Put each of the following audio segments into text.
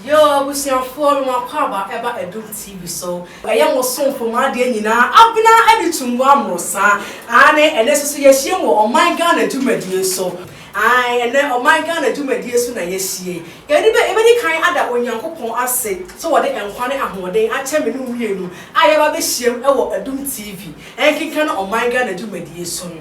Yoo abusuafoɔ no akwaaba ɛba adum TV so ɛyɛ mo somfo mo adeɛ nyinaa abena ɛde tum boa mo saa aane ɛnɛ soso yɛahyiam wɔ ɔman Ghana dwumadie so ae ɛnɛ ɔman Ghana dwumadie so na yɛahyie yɛde bɛ yɛbɛdi kan ada Onyankopɔn ase sɛ wɔde nkwa ne ahoɔden akyɛ me ne wo mmienu a yɛaba abɛhyiam ɛwɔ adum TV ɛnkenka no ɔman Ghana dwumadie so no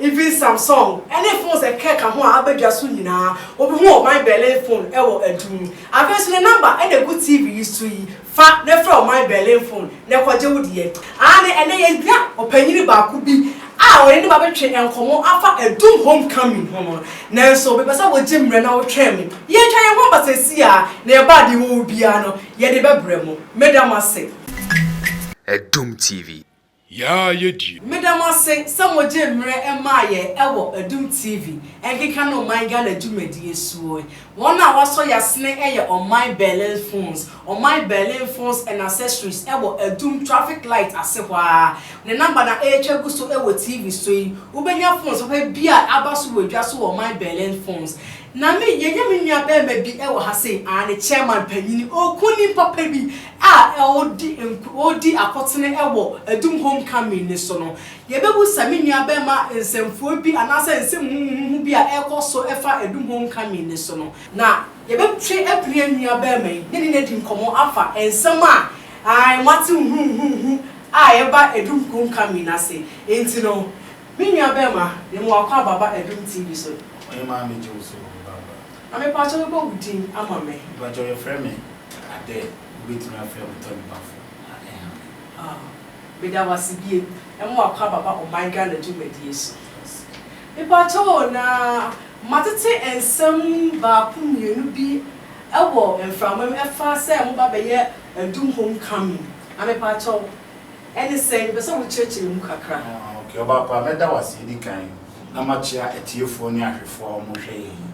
Even Samsung ne phones a ɛkeka ho a aba dwa so nyinaa, wobehu ɔman Berlin phone wɔ adum mu. Afei nso ne number na egu TV yi so yi, fa na frɛ ɔman Berlin phone na kɔgye wo deɛ. Aane, ɛnnɛ yɛhia ɔpanyin baako bi a ɔne ne ba betwe nkɔmmɔ afa adum homecoming ho no, nanso mepɛ sɛ wogye mmerɛ na wotwɛn me. Yɛatwa yɛn ho aba seesei ara, na yɛn bag yi wɔ hɔ biara no, yɛde bɛbrɛ mo. Meda mo ase. Adum TV. Yaa yɛdie. Meda mo ase sɛ mo gyee mmerɛ maa yɛn ɛwɔ Adum TV ɛnkeka no ɔman Ghana dwumadie soɔ yi. Wɔn a wɔasɔ yasene ɛyɛ ɔman Berlin Phones, ɔman Berlin Phones and Accessories ɛwɔ Adum traffic light ase hɔ ara. Ne number na ɛretwa gu so ɛwɔ TV so yi. Wobɛnya phones papa biara a aba so wɔ dwa so wɔ ɔman Berlin Phones. Na me, yɛnya me nua bɛɛma bi ɛwɔ ha sei, aane, chairman panyini, ɔɔku nim papa bi. a ɔredi nko ɔredi akotene wɔ Adum Homecoming no so no, yɛbɛbu sɛ me nuabarima nsɛmfua bi anaasɛ nsɛm huhuuhu bi a ɛrekɔ so fa Adum Homecoming no so no, na yɛbɛtwe apini yɛn nuabarima yi ne ne adi nkɔmmɔ afa nsɛm a ae moate huhuuhu a ɛba Adum Homecoming no ase. Enti no, me nuabarima, yɛma wo akwaaba ba Adum TV so. Ɔhemmaa megye wo sɛ wo me ba ba. Na me pakyɛ bɛbɔ wo din ama me. Me pakyɛ yɛfrɛ me adɛ wo bɛtumi afrɛ me tɔ nipa fo na ɛnha me. Ah meda wo ase biem ɛma wa kɔ aba ba ɔman Ghana dwumadie so. Me pakyɛ o na ma tete nsɛm baako mmienu bi ɛwɔ mframa mu ɛfa sɛ mo ba bɛyɛ adum home coming na me pakyɛ wo ɛne sɛn me pɛ sɛ wo kyerɛkyerɛ mu kakra. Ah ok ɔbaapa mɛda wo ase ɛdi kan. na moakyea atiefoɔ ne ahwɛfoɔ a wɔrehwɛ yɛn yi.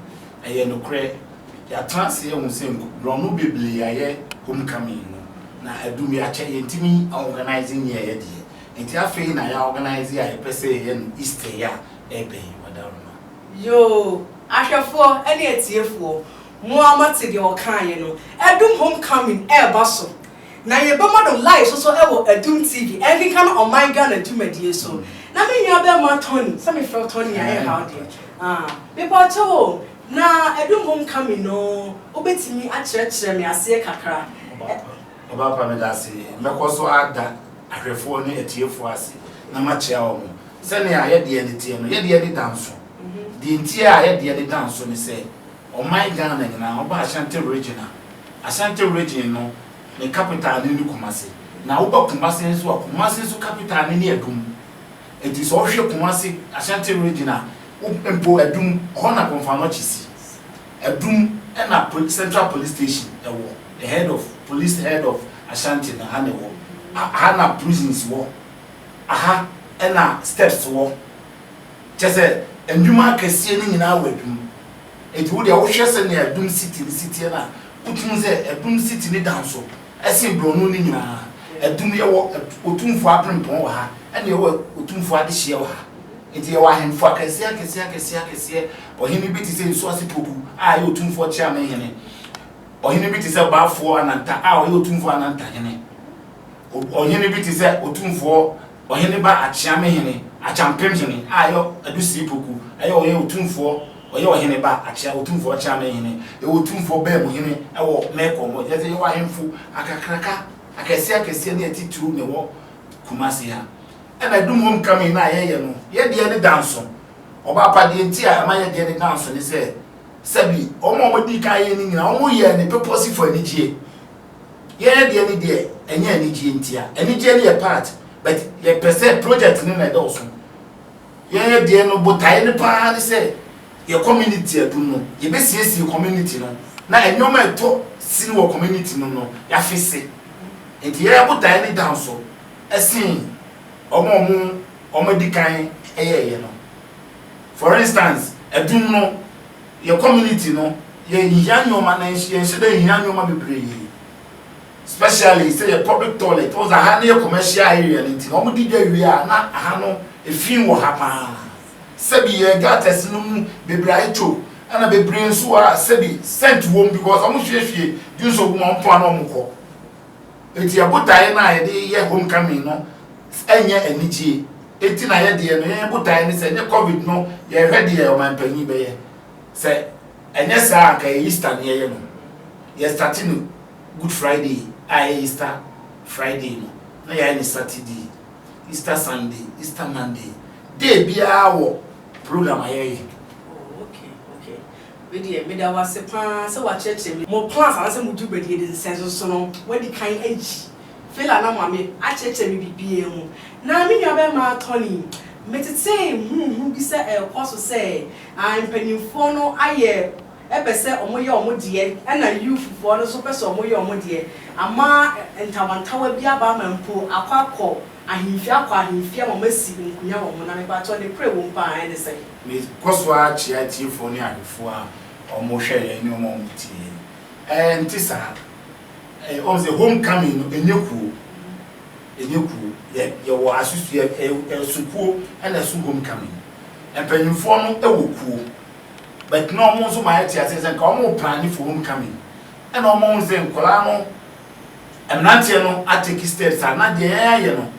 Ɛyɛ nokorɛ, yɛatena ase ahu sɛ nkobrɔno beblee ayɛ homecoming no, na adum yɛakyɛ yɛntumi aorganise nyɛ yɛ deɛ, nti afei na yɛaorganise a yɛpɛ sɛ yɛyɛ no Easter yi a ɛrebɛn yi Wadaroma. Yoo, ahwɛfoɔ ne atiefoɔ, mo ara moate deɛ ɔkaeɛ no, adum homecoming ɛreba so, Na yɛbɛma no live so so wɔ Adum TV, ɛnkenkan ɔman Ghana dwumadie so. Na me nua bɛɛma Tony, sɛ me frɛ wo Tony a ɛnha wo deɛ? Ah, me bɔ kyɛ wo o, na Adum home coming no wo bɛtumi akyerɛkyerɛ me aseɛ kakra? Ɔbaapa me da ase, mɛkɔ so ada ahwɛfoɔ ne atiefoɔ ase na makyerɛ wɔn sɛnea yɛdeɛ no teɛ no, yɛdeɛ no da nso, deɛ nti a yɛdeɛ no da nso ne sɛ, Ɔman Ghana nyinaa, woba Ashanti Region a, Ashanti Region no ne capital no ne Kumasi. Na woba Kumasi nso a, Kumasi nso capital no ne Adum. Nti sɛ wohwɛ Kumasi, Ashanti Region a, mpo Adum, hɔ na Komfo-Anokye si. Adum na Central Police Station wɔ, the head of, police head of Ashanti no ha na ɛwɔ. Aha na prisons wɔ. Aha na steps wɔ. Kyerɛ sɛ, nnwuma akɛseɛ no nyinaa wɔ adum. Enti wo deɛ wohwɛ sɛdeɛ adum siti no si teɛ no a, wotumi hu sɛ adum siti no da nso sen borɔno no nyinaa. Adum, yɛwɔ otumfoɔ aberempɔn wɔ ha, ɛnna yɛwɔ otumfoɔ adehyeɛ wɔ ha. Enti yɛwɔ ahemfo akɛseɛ akɛseɛ akɛseɛ akɛseɛ. Ɔhene bi te sɛ Nsuase Poku a ɛyɛ otumfoɔ Kyeame hene. Ɔhene bi te sɛ Baafoɔ Ananta a ɔyɛ otumfoɔ Ananta hene. Ɔhene bi te sɛ otumfoɔ. Ɔhene ba Akyeame hene Akyampem hene a yɛ Adusiri poku ɛyɛ ɔyɛ otumfoɔ ɔyɛ ɔhene ba Akyea otumfoɔ Akyeame hene yɛ otumfoɔ baamu hene ɛwɔ Mɛkɔn mu ɛkyerɛ sɛ yɛwɔ ahemfo akakraka akɛseɛ akɛseɛ ne atitiriw na ɛwɔ Kumasi ha ɛna Adum homecoming no a yɛyɛ no yɛ deɛ ne danso Ɔbaapa deɛ nti a ɛma yɛ deɛ ne danso ne sɛ sɛbi wɔn a wɔdii kan yɛ no nyinaa wɔn yɛɛ no pɛpɔsifo anigyeɛ Yɛn deɛ ne deɛ ɛnyɛ anigyeɛ ntia. Anigyeɛ no yɛ part but yɛpɛ sɛ project no na ɛdɔɔso. Yɛn deɛ no botaeɛ no paa ne sɛ yɛ community adum no yɛbɛsiesie community no na nneɛma ɛtɔ sin wɔ community no no yɛafese. Nti yɛn botaeɛ no dɔɔso sen wɔn a wɔn wɔn adi kan yɛɛyɛ no. For instance adum no. Yɛ community no yɛ nhia nneɛma nanso yɛ nhyɛ da nhia nneɛma bebree specially sɛ yɛ public toilet wɔn sɛ ha no yɛ commercial area no nti na wɔn di dwa wie a na ha no efin wɔ ha paa sɛbi yɛ gutters no mu bebree ayɛ kyo ɛna bebree nso wɔ ha sɛbi scent wɔm because wɔn hwie hwie dwonsɔ gu mu a wɔn pon ano a wɔn kɔ. Enti yɛn botaeɛ no a yɛde reyɛ homecoming no nyɛ anigyeɛ, enti na yɛ deɛ no yɛn botaeɛ ne sɛ ɛnyɛ covid no yɛrehwɛ deɛ ɔmanpanyin bɛyɛ, sɛ ɛnyɛ saa a anka ɛyɛ Easter ne yɛyɛ no. Yɛ starte no Good Friday a ɛyɛ Easter Friday no na yɛayɛ no Saturday, Easter Sunday, Easter Monday, day biara wɔ program a yɛyɛ. Me deɛ meda wo ase paa sɛ woakyerɛkyerɛ me mo plans anaasɛ mo dwubadi yɛde nsɛnsoso no woadi kan ayi Fela na Mame akyerɛkyerɛ me biribiara mu na me nua bɛmaa Tony metetee huuhu bi sɛ ɛrekɔ so sɛ ah mpaninfoɔ no ayɛ ɛpɛ sɛ ɔmo yɛ ɔmo deɛ ɛna youth foɔ no nso pɛ sɛ ɔmo yɛ ɔmo deɛ ama ntawantawa bi aba ama mpo akɔ akɔ ahenfie akɔ ahenfie ama ɔmo asi nkunya wɔ ho na mepakyɛw ne korɛ wɔ mu paa ɛne sɛn? Mekɔ so ara kyia atiefo ne ahwɛfo a wɔhwɛ yɛn ne wɔn a wɔtie yɛn. Ɛnte saa. Woahu sɛ home coming no, ɛnyɛ kuo. Ɛnyɛ kuo. Yɛ, yɛwɔ asusua, ɛ, ɛsukuo na ɛso home coming. Mpanimfoɔ no wɔ kuo. But na wɔn nso ma yɛte aseɛ sɛ nka wɔn replane for home coming. Ɛna wɔn ahunu sɛ nkwadaa no, mmeranteɛ no atake steps a na deɛ yɛn ayɛ no.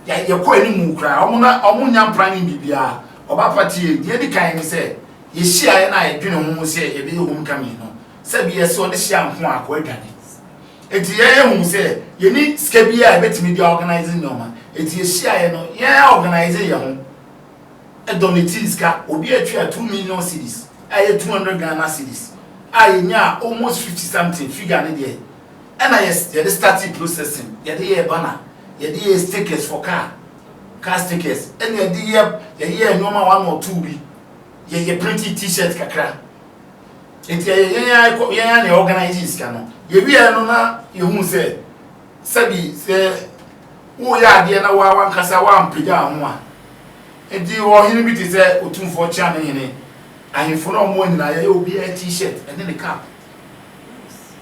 Yɛ, yɛkɔɔ anim koraa. Wɔn na wɔnnya mpena ne biribiara. Ɔbaa pa tiee. Deɛ edi kan ne sɛ, yɛhyiaeɛ na yɛdwenee ho sɛ yɛbɛyɛ homecoming no, sɛdeɛ sɛ ɔde hyia nko a, kɔ adwane. Enti yɛn yɛhuu sɛ yɛnni sika biara a yɛbɛtumi de aorganise nneɛma, enti yɛhyiaeɛ no, yɛn ara organisee yɛn ho donatee sika. Obiara tuaa two million cedis, a ɛyɛ two hundred Ghana cedis, a yɛnyaa almost fifty something, figure no deɛ. Ɛna yɛ yɛde starting processing yɛde yɛɛ banner yɛde yɛɛ stickers for car car stickers ɛna yɛde yɛ yɛyɛɛ nneɛma one or two bi yɛ yɛ printing t-shirt kakra nti yɛyɛ yɛn ara kɔ yɛn ara na organize sika no yɛwia no na yɛhu sɛ sɛbi sɛ woyɛ adeɛ na woa wankasa woampagya ho a nti ɔhene bi te sɛ otumfoɔ kyea ne hene ahemfo no ɔmo nyinaa yɛyɛ obiara t-shirt ɛne ne cap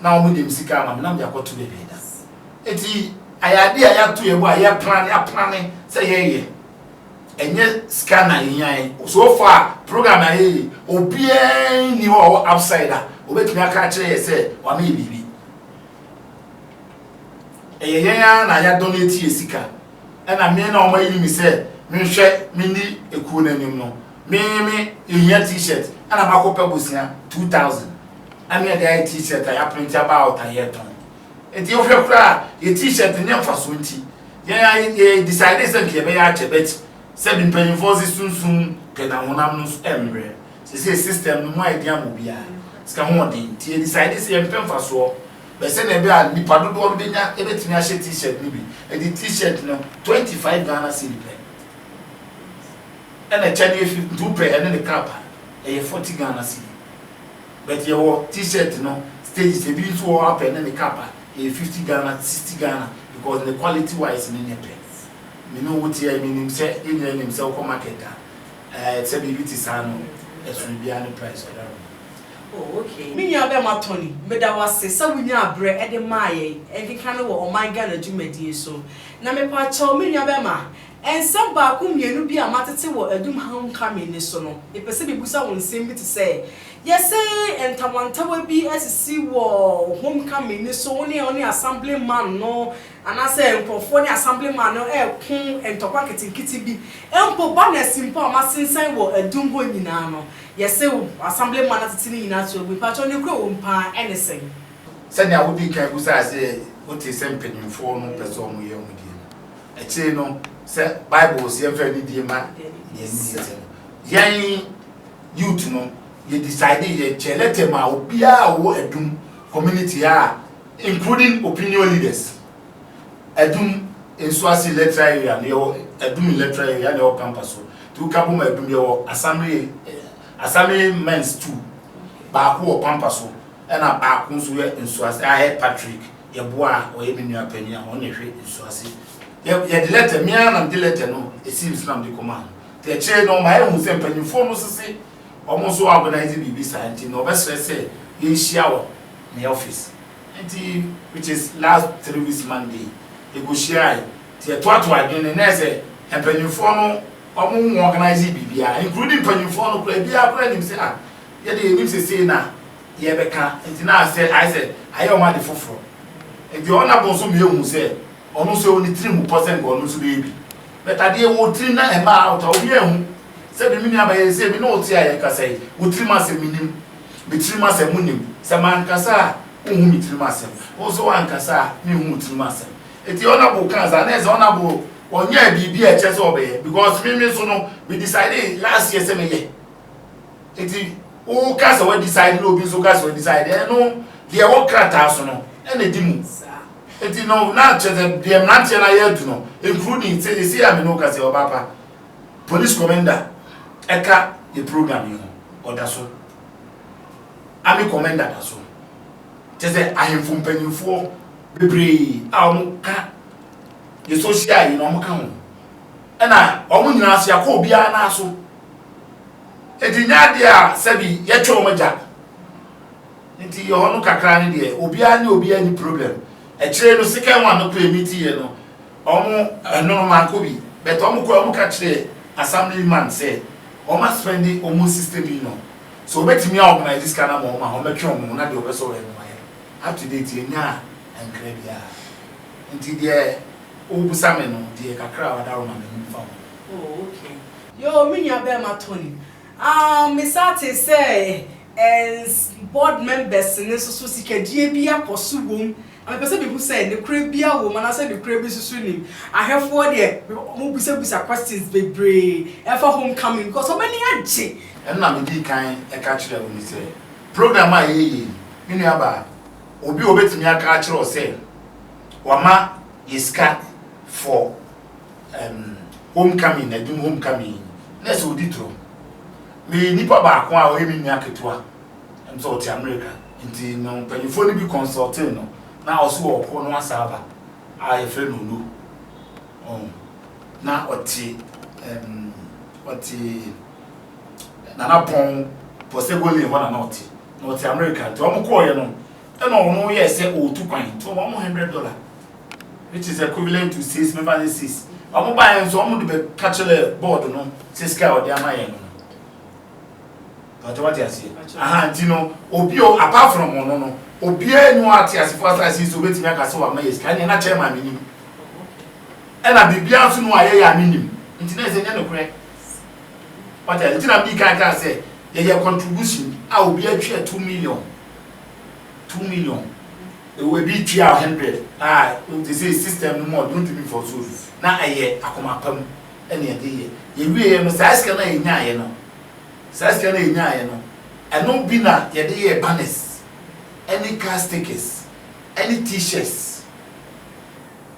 na ɔmo de me sika ama me na mede akɔto baabi ɛda. Enti ayɛ adeɛ a yɛato yɛn bo a yɛplane aplane sɛ yɛyɛ. Ɛnyɛ sika na ehia yɛn. So far program a yɛyɛ yi, obiara nni hɔ a ɔwɔ upside a obetumi aka akyerɛ yɛn sɛ wama yɛn biribi. Ɛyɛ yɛn ara na yɛ donate yɛn sika. Ɛna me na wɔayiri me sɛ menhwɛ menni ekuo no anim no, Me me mehia t-shirt ɛna makɔ pɛ bosea two thousand ɛne ɛde ayɛ t-shirt a yɛaprente aba out a yɛtɔn nti wohwɛ koraa yɛ t-shirt nyɛ mfasoɔ nti yɛn a yɛ decide sɛ nka yɛbɛyɛ akyɛ bɛt sɛ bi mpanyinfoɔ se sunsum pɛ na honam no mmerɛ sese system no mu a yɛde ama obiara sika ho ɔden nti yɛ decide sɛ yɛmpɛ mfasoɔ bɛ sɛ na ɛbɛ a nipa dodoɔ no bɛnya ɛbɛtumi ahyɛ t-shirt no bi ɛde t-shirt no twenty five Ghana cedi pɛ Ɛna akyɛdeɛ fi nti wo pɛ ɛne ne cap a ɛyɛ forty Ghana cedi but yɛ wɔ t-shirt no stages ebi nso wɔ hɔ a pɛ ɛne ne cap a ɛyɛ fifty Ghana sixty Ghana because ne quality wise no nyɛ pɛ me ne wo teɛ me nim sɛ yɛ nyinaa nim sɛ wo kɔ market a ɛɛ sɛ biribi te saa no ɛsono biara ne price ɔda no Oh ok. Me nua bɛma Tony, meda wo ase sɛ wo nyaa berɛ de maa yɛn nkekane wɔ ɔman Ghana dwumadie so. Na mepaakyɛw me nua bɛma, Nsɛm baako mmienu bi a matete wɔ Adum Homecoming no so no, mepɛ sɛ mebisa wo nsɛm bi te sɛ, Yɛse ntawantawa bi asisi wɔ Homecoming no so, wo ne wo ne Assemblyman no anaasɛ nkurɔfoɔ ne Assemblyman no reko ntɔkwa nketenkete bi. Mpo banners mpo a wɔasensan wɔ Adum hɔ nyinaa no, yɛse Assemblyman no atete ne nyinaa ato agu. Mpakyɛw, nokorɛ wɔ mu paa ɛne sɛn? Sɛnea wodii kan bisaa sɛ wote sɛ mpaninfoɔ no pɛ sɛ wɔyɛ wɔn deɛ no, Akyiri no, sɛ Bible se yɛmfa anidie mma nea ɛnni agya no, yɛn youth no, yɛ decide, yɛkyɛ letter ma obiara a ɔwɔ Adum community a, including opinion leaders. Adum nsuase electoral area no, yɛwɔ Adum electoral area na ɛwɔ Pampa so. Nti woka bom a Adum, yɛwɔ assembly, assembly mens two, baako wɔ Pampa so, ɛna baako nso yɛ nsuase, Ahead Patrick. yɛboa a ɔyɛ me nua panyin a ɔno na ɛhwɛ nsu ase yɛ yɛde lɛtɛ me ara na mede lɛtɛ no esii nso na mede kɔma no te akyire no ɔma yɛhu sɛ mpanyinfoɔ no sese wɔn nso organize biribi saa nti na ɔbɛsrɛ sɛ yɛnhyia wɔ ne office nti which is last three weeks monday yɛkɔhyiae nti yɛtoato adwene ne nɛ sɛ mpanyinfoɔ no wɔn mu organize biribiara including mpanyinfoɔ no koraa biara koraa nim sɛ a ah, yɛde yɛnim sesei na Yɛbɛka nti na ayɛ sɛ ayɛ sɛ ayɛ wɔn ade foforɔ. Nti ɔno na bɔnsɔm yɛ hu sɛ ɔno nso ɛwɔ ne tiri mu pɔ sɛ nka ɔno nso bɛyɛ bi. But adeɛ ɛwɔ wo tirim na ɛmma out a, obiara nhu. Sɛdeɛ me nua bɛyɛ sei, me ne wo te a yɛkasa yi, wo tirim asɛm menim, me tirim asɛm wonim. Sɛ mankasa a, wonhu me tirim asɛm. Wo nso woankasa a, menhu wo tirim asɛm. Nti Honourable kaa saa na ɛyɛ sɛ Honourable ɔnyɛɛ biribi a ɛkyerɛ sɛ ɔbɛyɛ because me me nso no, me decidee last year sɛ mɛyɛ. Enti woka sɛ wɔadecide na obi nso ka sɛ wɔadecide, ɛno deɛ ɛwɔ krataa so no ɛna ɛdi mu. Enti no na kyerɛ sɛ deɛ mmeranteɛ no ayɛ adu no, including sɛ ɛsi a me ne wo ka sɛ ɔbaapa police commander ɛka yɛ program yi ho ɔda so, army commander da so, kyerɛ sɛ ahemfo mpanyinfoɔ bebree a wɔka yɛ social yi na wɔka ho ɛna wɔn nyinaa so yɛakɔ obiara no aso. Enti nyɛ adeɛ a sɛbi yɛtwe wɔn agya no nti yɛ hɔ no kakra ne deɛ obiara ne obiara ni problem akyire no second one no kɔɛ meeting yɛ no wɔn ɛnono manko bi but wɔn kɔɛ wɔn ka kyerɛ assembly man sɛ wɔn aspendi wɔn 60 million sɛ wɔbɛtumi a organize sika na ma wɔn a wɔn bɛtwe wɔn ho na deɛ wɔbɛsɔ wɔn no wɔyɛ up to date yɛ nyaa nkra biara nti deɛ wobusa me no deɛ kakra a wadaro ma me no mfa ho. Oh, okay. Yoo me nua bɛɛma Tony. Aah me saa tee sɛ ɛns board members no nso so sikadie bi akɔ so wom na me pɛ sɛ me hu sɛ nokorɛ biaa wom anaa sɛ nokorɛ bi nso so nim. Ahwɛfoɔ deɛ ɔmo bisa bisa questions bebree ɛfa home coming because ɔmo ani agye. Ɛno na me dii kan ɛka kyerɛɛ wo no sɛ program a yɛyɛ yi me nua baa obi a ɔbɛtumi aka akyerɛ wo sɛ wama yɛ sika for. um, homecoming, adum homecoming, na ɛsɛ odi duro. Meyɛ nipa baako a ɔyɛ me nua ketewa, ɛm sɛ ɔte America, nti no mpanyinfoɔ no bi consulting no, na ɔso wɔ ɔko no asaaba a yɛfrɛ no no, um, na ɔte, um, ɔte Nana Pɔn, Pɔsɛgole hɔ na na ɔte, na ɔte America, nti wɔn kɔɔyɛ no, ɛna ɔno yɛ sɛ ɔretu kwan, nti wɔn mo hundred dollar. which is equivalent to six mefa ne six wɔn baeɛ nso wɔn de bɛka kyerɛ board no sɛ sika a wɔde ama yɛn no pàtó wate aseɛ aha nti no obi o apart from ɔno no obiara ni wɔn ate asefo asase so obetumi aka sɛ wɔama yɛ sika ɛna ɛna kyɛn maa mi nim ɛna biribiara nso no a yɛyɛ a mi nim nti na ɛsɛ nyɛ no korɛ wate aseɛ nti na mi kan kan sɛ yɛyɛ contribution a obiara twɛ two million two million. Ewɔ bi tua wo hundred a wote sei system no mu a ɔde ntumi mfa so bi na ɛyɛ akoma pa mu ɛna ɛde yɛ. Yɛ wie yɛ no saa sika no a yɛ nyaayɛ no saa sika no a yɛ nyaayɛ no ɛno bi na yɛde yɛɛ banners ɛne car stickers ɛne t-shirts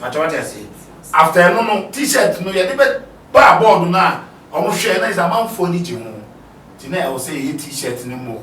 pakyɛ wate aseɛ after ɛno no t-shirt no yɛde bɛ baa board no a wɔn hwɛ na yɛ sɛ amanfoɔ ani gye ho nti na ɛwɔ sɛ yɛyɛ t-shirt no more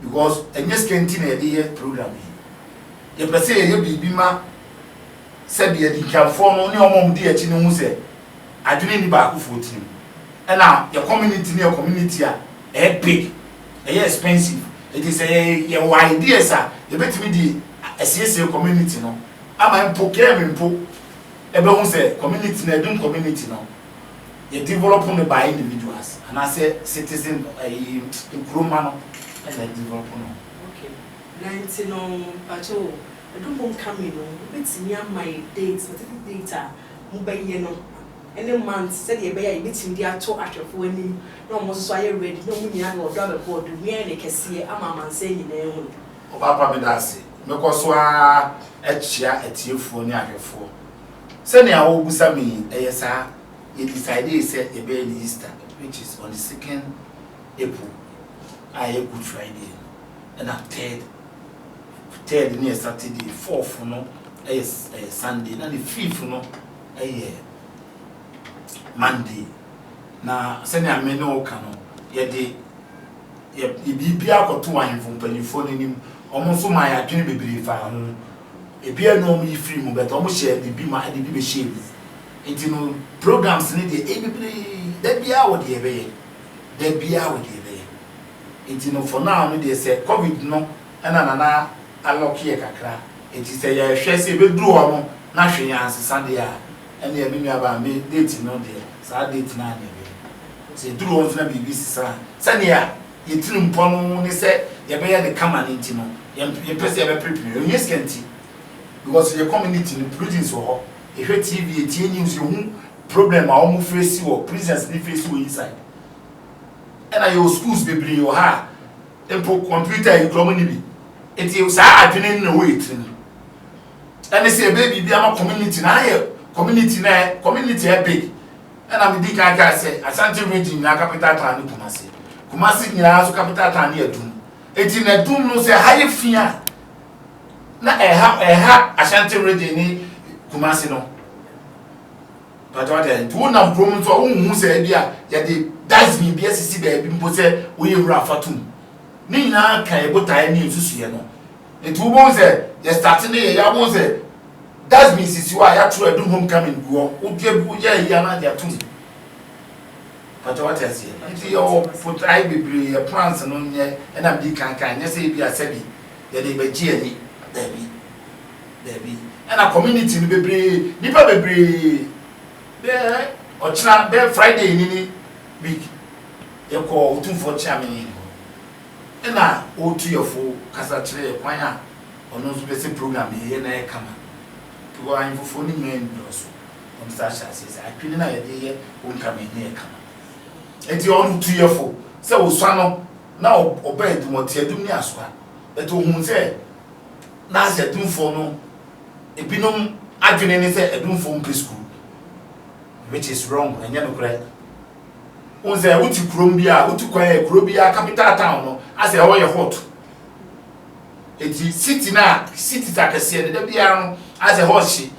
because ɛnyɛ sika nti na yɛde yɛ program yi. Yɛpɛ sɛ yɛyɛ biribi ma sɛdeɛ adikanfoɔ no ne wɔn a wɔdi akyi no hu sɛ adwene nni baakofoɔ tirim. Ɛna yɛ community no yɛ community a ɛyɛ big, ɛyɛ expensive. Enti sɛ yɛwɔ ideas a yɛbɛtumi de asiesie community no ama mpo Kemi mpo bɛhu sɛ community no, Adum community no, yɛ develop no by individuals anaasɛ citizen ɛyi ekuro mma no ɛna ɛdevelop no. Okay na nti no mpakyɛw o ɛdum home coming no wobɛtumi ama yɛ date specific date a mo bɛ yɛ no ɛne month sɛdeɛ ɛbɛyɛ a yɛ bɛtumi de ato ahwɛfoɔ anim na wɔn nso so ayɛ ready na wɔn nyinaa de ɔdɔ abɛbɔ ɔdɔ mu yɛ ayɛ no kɛseɛ ama amansan nyinaa ahunu. Ɔpaapa medaase mɛkɔ so ara akyia atiefoɔ ne ahwɛfoɔ. Sɛnea wobisa me yi, ɛyɛ saa, yɛ decidee sɛ yɛbɛyɛ no Easter which is on the second April a ɛyɛ Good Friday no ɛna third third no yɛ Saturday, fourth no ɛyɛ ɛyɛ Sunday na ne fifth no ɛyɛ Monday na sɛnea me ne wo ka no yɛde Yɛde biribiara kɔtoo ahemfo mpanyimfoɔ no anim, wɔn nso maa yɛn adwene bebree faa ho. Ebiara nni hɔ a wɔyi firii mu, but wɔhyɛɛ biribi ma ɛde bi bɛhyɛɛ mu. Enti no, programs no deɛ, ɛyɛ bebree, da biara wɔ deɛ yɛbɛyɛ, da biara wɔ deɛ yɛbɛyɛ. Enti no, for now no deɛ, sɛ Covid no na Nana alɔke yɛ kakra, enti sɛ yɛhwɛ sɛ yɛbɛduru hɔ no na hwee ansesa deɛ a, Ɛnneɛ me nuabaa me date no deɛ saa date no ara na ɛbɛyɛ. Sɛ ɛduru hɔ nso na biribi sesa a, sɛdeɛ yɛtirimpɔ no ne sɛ yɛbɛyɛ no kama no nti no, yɛmpɛ sɛ yɛbɛperepere. Ɛnyɛ sika nti, because yɛn community no prisons wɔ hɔ, yɛhwɛ TV, yɛtie news, yɛhu problem a wɔn face wɔ, prisons no face wɔ inside. Ɛna yɛwɔ schools bebree wɔ ha a mpo computer yi kura wɔn nni bi. Nti saa adwene no na ɛwɔ yɛn tirim. Ɛne sɛ yɛbɛyɛ biribi ama community no ara yɛ community no community a ɛbig ɛna medi kan kae sɛ Ashanti region nyinaa capital town ne Kumasi Kumasi nyinaa nso capital town ne Adum enti na Adum no sɛ ɛha yɛ fi a na ɛha ɛha Ashanti region ne Kumasi no pàtó ɔtɛ nti wo nam kurom nso a wohu sɛ ebi a yɛde dustbin bi asisi baabi mpo sɛ woyɛ nwura afatum ne nyinaa ka ebotae ne nsusuiɛ no Nti wobɛhu sɛ yɛ starte ne yɛ ya wobɛhu sɛ dustbin sisi hɔ a yɛatwerɛ adu homecoming gu hɔ wodua bi woyɛ ayi anaa de atom pata wate aseɛ nti yɛwɔ potae bebree yɛ plans no nyɛ ɛna mede kankan nyɛ sɛ ebi asɛbi yɛde bɛgye ani daabi daabi ɛna community no bebree nipa bebree bɛɛ ɔkyena bɛɛ friday nini week yɛkɔ otumfoɔ kyeame Ɛna ɔretu yɛ fo kasa kyerɛ yɛ kwan a ɔno nso pɛ sɛ program no yɛyɛ na ayɛ kama. Because ahemfofoɔ no nyinaa nnɔɔso, wɔn sa hyɛ aseɛ sɛ adwene no a yɛde yɛ home coming no yɛ kama. Ɛnti ɔno tu yɛ fo sɛ ɔsua no na ɔba adum, ɔte adum ne asoa. But ɔhuu sɛ na asɛ adumfoɔ no ebinom adwene ne sɛ adumfoɔ mpɛ sukuu. Which is wrong, ɛnyɛ nokorɛ. Wohu sɛ wote kurom bi a, wotu kwan a kuro biara capital town no asɛ ɛhɔ yɛ hot. Eti city no a cities akɛseɛ no da biara no asɛ ɛhɔ hye.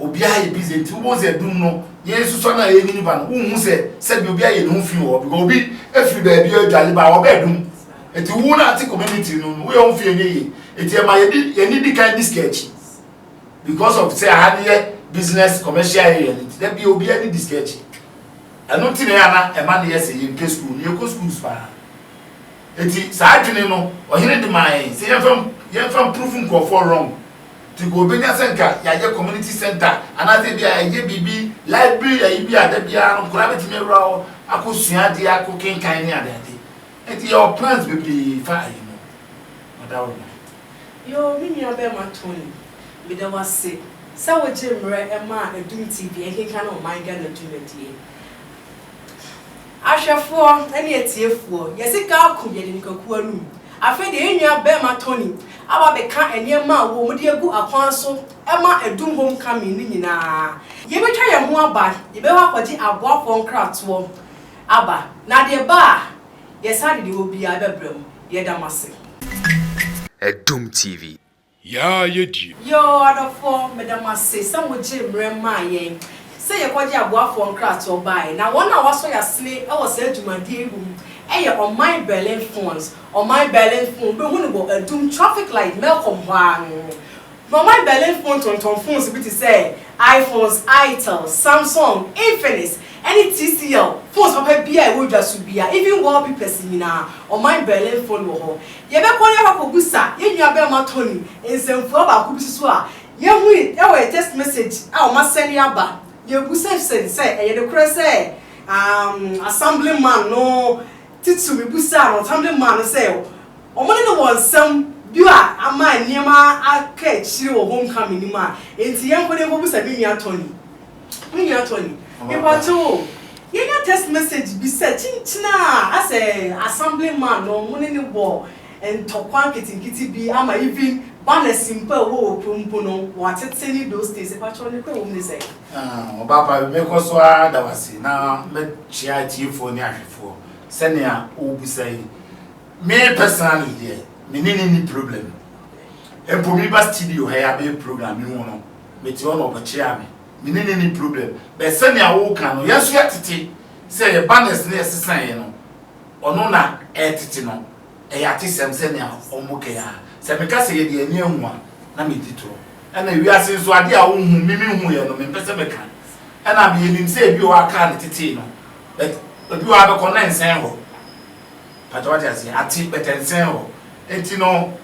Obiara yɛ busy nti wobɛhu sɛ dum no yɛnsusua no a yɛnyini ba no wonhu sɛ sɛdeɛ obi ayɛ ne ho fi wɔ hɔ because obi afiri baabi adwale ba a ɔbɛɛ dum. Eti wo no a te community no no woyɛ wo ho fi ɛnyɛ yie. Eti ɛma yɛde yɛn ani di kan di sika akyi. Because of sɛ aha no yɛ business commercial area no nti da bia obia ne disika akyi. Ɛno nti na ɛyɛ a na ɛma no yɛ sɛ yɛmpɛ school no, yɛkɔ schools paa. Nti saa adwene no ɔhene de maa yɛn sɛ yɛmfa yɛmfa mprove nkurɔfoɔ wrong. Nti nka obɛnya sɛ nka yɛayɛ community center anaasɛ ebi a yɛayɛ biribi library ayi bi a da biara no nkwadaa bɛtumi awura hɔ akɔ sua adeɛ akɔ kenkan ne adeade. Nti yɛwɔ plans bebree fa ayi no. Madaworoma. Yoo, me nuabarima Tony, meda wo ase sɛ wogye mmerɛ maa Adum TV ɛkenkan Ɔman Ghana dwumadie. Ahwɛfoɔ ne atiefoɔ, yɛse ka ako yɛde nikakuo anum. Afei deɛ yɛn nuabarima Tony aba abɛka nneɛma a wɔn de agu akwan so ma Adum Home Coming no nyinaa. Yɛbɛtwa yɛn ho aba, yɛbɛkɔ akɔgye aboafoɔ nkratoɔ aba, na deɛ ɛba a Yɛsan de deɛ ɛwɔ biara bɛbrɛ mo. Yɛda mo ase. Adom TV. Yaa yɛ die. Yoo adɔfoɔ meda mo ase sɛ mo gyee mmerɛ maa yɛn sɛ yɛ kɔgye aboafoɔ nkratoɔ baaɛ na wɔn a wɔasɔ yasene wɔ saa dwumadie yi mu yɛ ɔman Berlin Fonds ɔman Berlin Fonds wobɛhu no wɔ Adum traffic light Melcom hɔ ara no Norman Berlin fon tontɔn phones bi te sɛ iPhones, Itel, Samsung, Infinix, ne TCL, phones papa biara a ɛwɔ dwa so biara, even wallpepers nyinaa, ɔman Berlin fon wɔ hɔ. Yɛbɛkɔ na yɛakɔbisa yɛn nuabarima Tony nsɛmfua baako bi nso a yehui wɔ yɛn text message a wɔasɛne aba. Yebisa Hsen sɛ ɛyɛ nokorɛ sɛ Assemblyman no Titiriw mibisaa no, ɔtam de maa no sɛ wɔne no wɔ nsɛm bi a ama nneɛma aka akyiri wɔ homecoming no mu a enti yɛnkɔ na yenkobisa me nua Tony. Me nua Tony, mepakyɛw o, yɛanya text message bi sɛ kyenkyen a asɛ Assemblyman no wɔne no wɔ ntɔkwa nketenkete bi ama even banners mpo a ɛwɔ wɔ kurom mpo no, wɔatete no those days. Mepakyɛw, nokorɛ wom ne sɛn? Ɔbaapa, mɛkɔ so ara ada wo ase na mɛkyea atiefoɔ ne ahwɛfoɔ sɛnea wobisa yi. Me personally deɛ, me ne no nni problem. Mpo me ba studio ha yi abɛyɛ program me hu no, mete hɔ na ɔbɛkyea me. Me ne no nni problem. But sɛnea woka no, yɛn nso yɛtete sɛ yɛba nurse na yɛsesa yɛn no, ɔno na ɛtete no. Ɛyɛ atesɛm sɛnea wɔbɔ kɛn ara. Sɛ meka sɛ yɛde ani ahu a, na medi torɔ. Ɛnna wiase nso, ade a wonhu, me mihuiɛ no, mempɛ sɛ meka. Ɛnna menim sɛ ebi wɔ hɔ a kaa no tetee no, but ebi wɔ hɔ a bɛkɔ no na ɛnsɛn hɔ. Pakyɛ wate aseɛ? Ate, but ɛnsɛn hɔ. Enti no,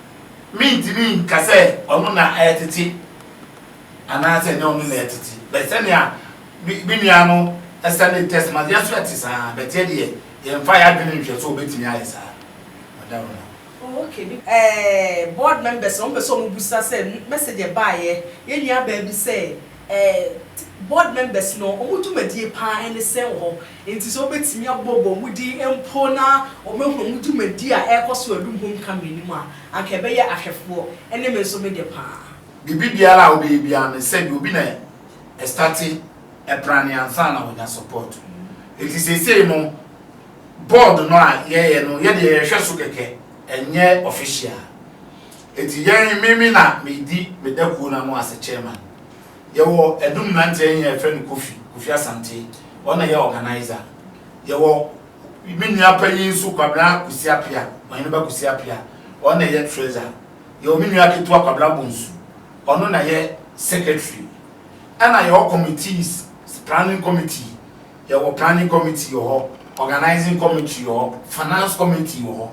mentumi nka sɛ ɔno na ɛretete anaasɛ ɛnyɛ ɔno na ɛretete. But sɛnea me nua no sɛnde text ma, yɛn nso yɛte saa ara, but yɛdeɛ Yɛmfa yɛn adwene nhwɛ sɛ wɔbɛtumi ayɛ saa. Madam Ronald. Oh okay me eh board members no wɔn pɛ sɛ wɔn bisa sɛ message ɛbaeɛ yɛn nua baa bi sɛ eh t board members no wɔn dwumadie paa ɛne sɛn wɔ hɔ nti sɛ wɔbɛtumi abɔ bɔ wɔn din mpo na wɔn ahunu wɔn dwumadie a ɛrekɔ so Adum Home Coming no mu a anka ɛbɛyɛ ahwɛfoɔ ɛne me nso me deɛ paa. Biribi biara a wobɛyɛ biara no sɛ deɛ obi na ɛstate ɛprane ansa na wɔnya support. Enti seesei no board no a yɛyɛ no yɛdeɛ yɛhwɛ so kɛkɛ ɛnyɛ official. Enti yɛn me me na medi me da kuo no ano as a chairman. Yɛwɔ adum mmeranteɛ he a yɛfrɛ no Kofi, Kofi Asante, ɔno na ɛyɛ organiser. Yɛwɔ me nua panyin nso Kwabena Kwesi Apea, Ɔhene ba Kwesi Apea, ɔno na ɛyɛ treasurer. Yɛwɔ me nua ketewa Kwabena Bonsu, ɔno na ɛyɛ secretary. Ɛna yɛwɔ committees, planning committee, yɛwɔ planning committee wɔ hɔ, organising committee wɔ hɔ, finance committee wɔ hɔ.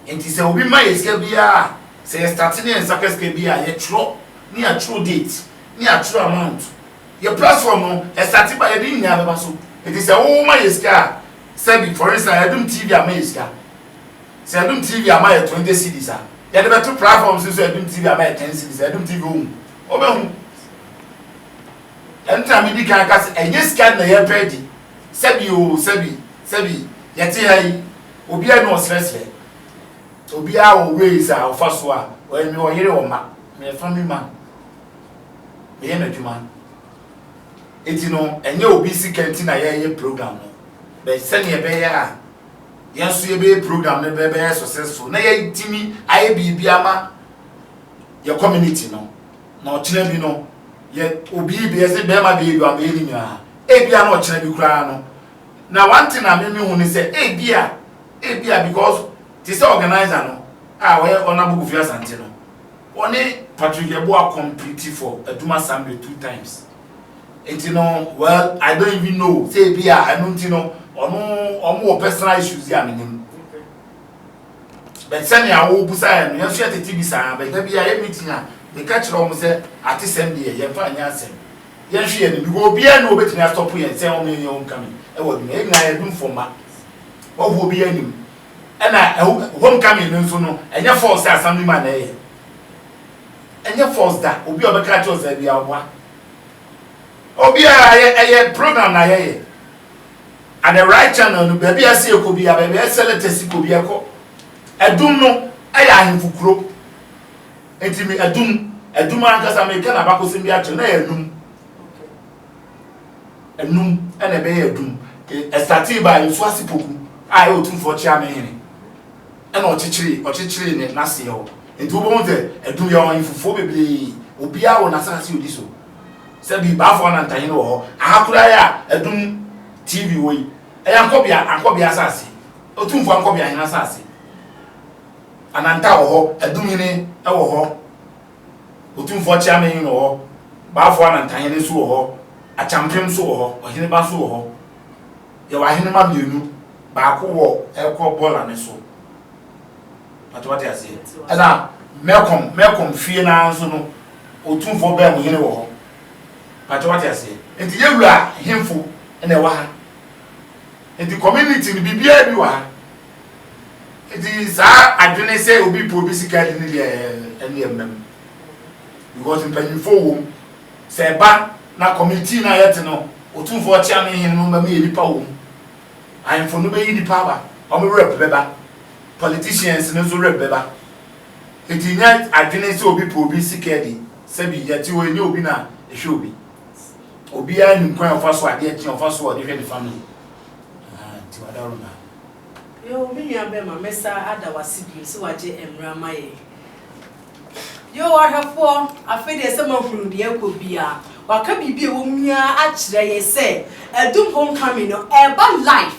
Nti sɛ obi ma yɛ sika biara a, sɛ yɛ starte ne yɛ nsa ka sika bi a, yɛtwerɛ ne yɛatwerɛ date ne yɛatwerɛ amount. Yɛ platform no, ɛstarte ba yɛde ne nyinaa bɛba so. Nti sɛ wo ma yɛ sika a, sɛbi, for instance, Adum TV ama yɛ sika. Sɛ Adum TV ama yɛ 20 cedis a, yɛde bɛto platforms no so Adum TV ama yɛ 10 cedis a, Adum TV ɔhu. Wɔbɛhu. Ɛno ntina medi kan ka sɛ ɛnyɛ sika na yɛrepɛ adi. Sɛbi oo, sɛbi, sɛbi, yɛte ha yi, obiara nni ɔsrɛsrɛ. Obiara wɔ ways a ɔfa so a, ɔyɛ, mewɔ yere, wɔ mma, meyɛ family man, meyɛ m'adwuma. Enti no, ɛnyɛ obi sika nti na yɛreyɛ program no, but sɛnea ɛbɛyɛ a yɛn nso yɛbɛyɛ program no bɛbɛyɛ successful na yɛatumi ayɛ biribi ama yɛ community no na ɔkyena bi no yɛ obi bi yɛsɛ bɛrima bɛyɛ bi abɛyɛ ne nyinaa ebia na ɔkyena bi koraa no na one thing a meme hu ne sɛ ebia ebia because te sɛ organizer no a ɔyɛ ɔnabo kofi asante no ɔne patrick yɛboa complete for aduma sambe two times nti no well i don't even know sɛ ebia ɛno nti no ɔno ɔmo wɔ personal issues a menim But sɛnea wo busa yɛ no yɛn nso yɛ tete bi saa but da bi a yɛ meeting a me ka kyerɛ wɔn sɛ atesɛm deɛ yɛn fa nyɛ asɛm yɛn hwɛ yɛn ni because obiara ni obetumi astɔpo yɛn sɛ wɔn yɛn yɛn wɔn kami ɛwɔ adwuma yɛn nyinaa yɛ dum fɔmba wɔfo obi yɛn nim ɛna wɔn kami no nso no ɛnyɛ false sɛ assembly man na ɛyɛ ɛnyɛ false da obi a ɔbɛka kyerɛ ɔsɛ bi a ɔboa obiara yɛ ɛyɛ program na yɛyɛ. At the right channel no baabi a ɛsɛ yɛkɔ biara, baabi a ɛsɛ lɛtɛsi kɔ biara ɛkɔ. Adum no yɛ ahemfo kuro. Nti me Adum, Adum ankasa meka n'abakɔsɛm bi akyerɛ no na ɛyɛ Anum. Anum na ɛbɛyɛ Adum. Ɛsatee baa Nsuase Poku a ɛyɛ Otumfoɔ Kyeame hene na ɔkyekyeree ɔkyekyeree n'aseɛ hɔ. Nti wobɛhu sɛ Adum yɛwɔ ahemfofoɔ bebree, obiara wɔ n'asaase a ɔdi so. Sɛ bi ba afɔɔ na ntanyene wɔ hɔ, aha koraa yi a adum TV wɔ yi, ɛyɛ ankɔbea, ankɔbea asase, Otumfoɔ ankɔbea hene asase. Ananta wɔ hɔ, adum hene wɔ hɔ, Otumfoɔ Kyeame hene wɔ hɔ, ba afɔɔ na ntanyene nso wɔ hɔ, Akyampem nso wɔ hɔ, ɔhene ba nso wɔ hɔ. Yɛwɔ ahene ma mmienu, baako wɔ ɛrekɔ bɔɔla no so, Mpakyɛ wate aseɛ? Ɛna mɛkɔm mɛkɔm fie naa nso no otumfoɔ bɛn mo hene wɔ hɔ? Mpakyɛ wate aseɛ? Nti yɛ wura hemfo ɛna ɛwɔ ha? Nti community no biribiara bi wɔ ha? Nti saa adwene sɛ obi pɛ obi sika adi ne deɛ ɛne yɛ mmam because mpanyinfoɔ wɔ mu sɛ ɛba na committee no a yɛte no otumfoɔ ɔkyea me hene no mma me yɛ nipa wɔ mu. Ahemfo no bɛyi nnipa aba, wɔn werɛ bɛba. Politicians no nso werɛ bɛba. Enti nyɛ adwene sɛ obi pɛ obi sika adi, sɛbi yɛte hɔ yi nyɛ obi na ɛhwɛ obi. Obiara nim kwan a ɔfa so adeɛ kye a ɔfa so a ɔde hwɛ ne family. Ahaa nti wada wo nna. Yoo me nua bɛrima mɛsa ada wase bio sɛ wagye mmra ma yɛn. Yoo ahwɛfoɔ, afei deɛ sɛ moahunu deɛ ɛrekɔ biara, wɔaka biribi a ɛwɔ mu yi ara akyerɛ yɛn sɛ Adum Homecoming no ɛreba live,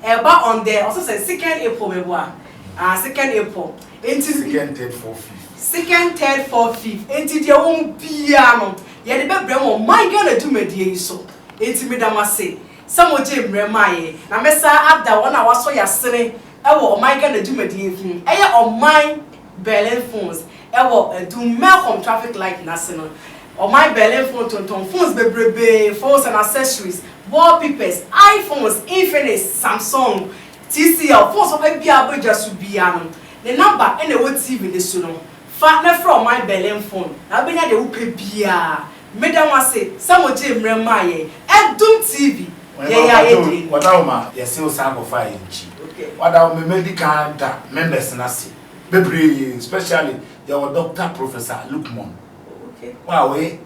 ɛreba on the, ɔse sɛn, second April meboa? Ah, second April, enti, Second, third, fourth, fifth. second, third, fourth, fifth, enti deɛ ɛwɔ mu biara no yɛde bɛbrɛ mo wɔ My Ghana dwumadie yi so, enti meda mo ase sɛ mogyee mmerɛ maa yɛn, na mɛsan ada wɔn a wɔasɔ yɛn asene wɔ My Ghana dwumadie yi ho, ɛyɛ ɔman. Berlin phones wɔ adum Malcolm traffic light no ase no, ɔman Berlin phone tontɔn phones bebrebee, phones and accessories, wall peepers, iPhones, Infinix, Samsung, TCL, phones papa biara a ɛbɔ gya so biara no, ne namba na ɛwɔ TV no so no. Fa na frɛ ɔman Berlin phone, na wobɛnya deɛ wopɛ biara. Meda mo ase sɛ mo gyee mmerɛ maa yɛn Adum TV yɛyɛ ayɛ den. Wada wo ma yɛse wo san kɔfaa yɛn nkyi wada wo me mɛdi kan da members no ase bebree specially yɛwɔ Doctor Professor Lukmon wo a wɔyɛ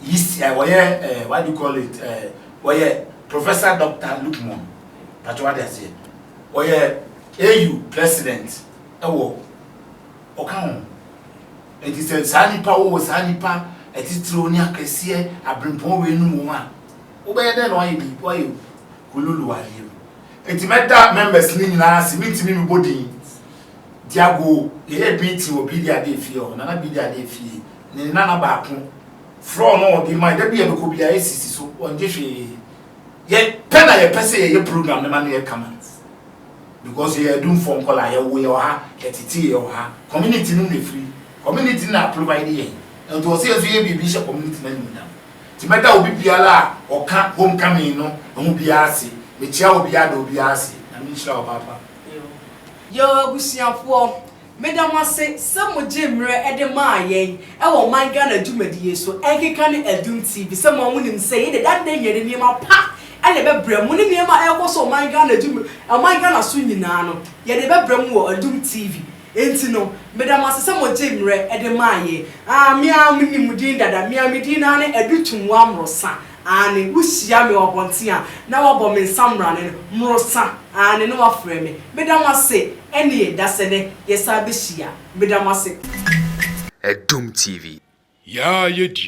yeast eh wɔyɛ eh what do you call it eh wɔyɛ Professor Doctor Lukmon patro wade aseɛ wɔyɛ AU President ɛwɔ Ɔka ho. Enti sɛ saa nnipa a wɔwɔ saa nnipa atitiriw ne akɛseɛ abirempɔn weinom wom a, wobɛyɛ dɛn na woayɛ biribi, woayɛ hululu wɔ adeɛ mu? Enti mɛda members no nyinaa ase, mentumi mmɛbɔ din. Diago, Yɛyɛɛ meeting wɔ Bidi Adee fie hɔ, Nana Bidi Adee fie, ne nana baako, floor no a ɔde mae, da bi a yɛbɛkɔ biara yɛsisi so, ɔngye hwee. Yɛ pɛ na yɛpɛ sɛ yɛyɛ program no ma no yɛ kama. because yɛyɛ Adumfoɔ nkwadaa, yɛwo yɛ wɔ ha, yɛtetee yɛ wɔ ha, community no na ɛfiri, community no na aprovide yɛn, nti ɔsɛ yɛn nso yɛyɛ biribi hyɛ community no animuonyam. Nti mɛda obi biara a ɔka home coming no ho biara ase, mekyea obiara da obiara ase, Nyame nhyira wo paapa. Yoo abusuafoɔ. Meda mo ase sɛ mo gyee mmerɛ de maa yɛn wɔ ɔman Ghana dwumadi yi so, ɛnkeka ne Adum TV sɛ mo ara mo nim sɛ yei deɛ da nnɛ yɛde nneɛma pa na ɛbɛbrɛ mo ne nneɛma a ɛrekɔ so wɔ ɔman Ghana dwuma ɔman Ghana so nyinaa no yɛde ɛbɛbrɛ mo wɔ Adum TV nti no meda mo ase sɛ mo gyee mmerɛ de maa yɛn. Ah, me ara me nim mo din dada, me ara me din no ara ne Adu Twumwa Amorosa. Aane, wo hyia me wɔ abɔnten a, na wabɔ me nsammrane no, morosa, aane, na wafrɛ me, meda mo ase, ɛneɛ, dasɛ nɛ, yɛsan bɛhyia, meda mo ase. Adum TV. Yaa yɛ di